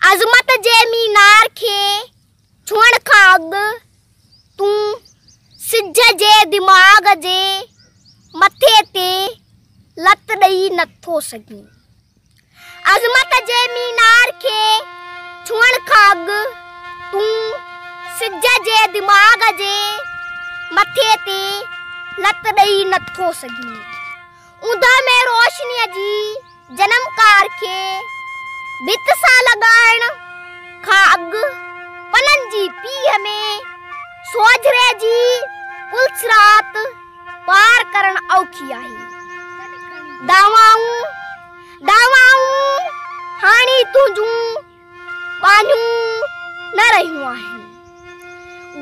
عظمت جي مينار کي ڇهڻ کان اڳ تون سج جي دماغ جي مٿي تي لت ڏئي نٿو سگهين. عظمت جي مينار کي ڇهڻ کان اڳ تون سج جي دماغ جي مٿي تي لت ڏئي نٿو سگهين. اوندهه ۾ روشنيء جي جنمڪار کي ڀت سان لڳائڻ کان اڳ پنن جي پيهه ۾ سوجهري جي پلسرات پار ڪرڻ اوکي آهي. دعوائون دعوائون هاڻي تنهنجون ٻانهيون نه رهيون آهن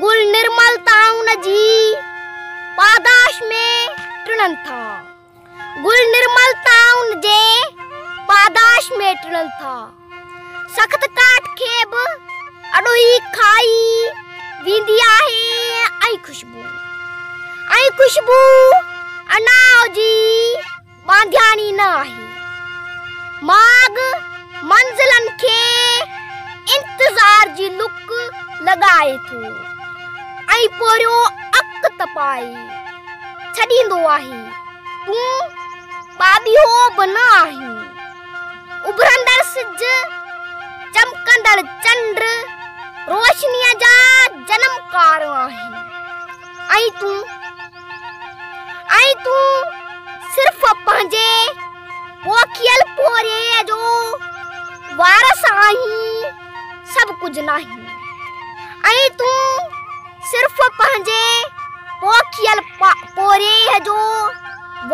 گل نرمل تائون جي پاداش ۾ ٽڙن ٿا گل نرمل تائون جي پاداش ۾ ٽڙن ٿا سخت ڪاٺ کي به اڏوهي کائي ويندي آهي ۽ خوشبو ۽ خوشبو اناء جي ٻانڌياڻي نه آهي ماڳ منزلن کي انتظار جي لڪ لڳائي ٿو ۽ پوريو اک تپائي ڇڏيندو آهي تون ٻاٻيهو به نه آهين اڀرندڙ سج چمڪندڙ چنڊ روشنيء جا جنمڪار آهن ۽ تون ۽ تون صرف پنهنجي پوکيل پورهيي جو وارث آهين سڀ ڪجهه ناهين ۽ تون صرف پنهنجي پوکيل پورهيي جو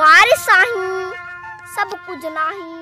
وارث آهين سڀ ڪجهه ناهين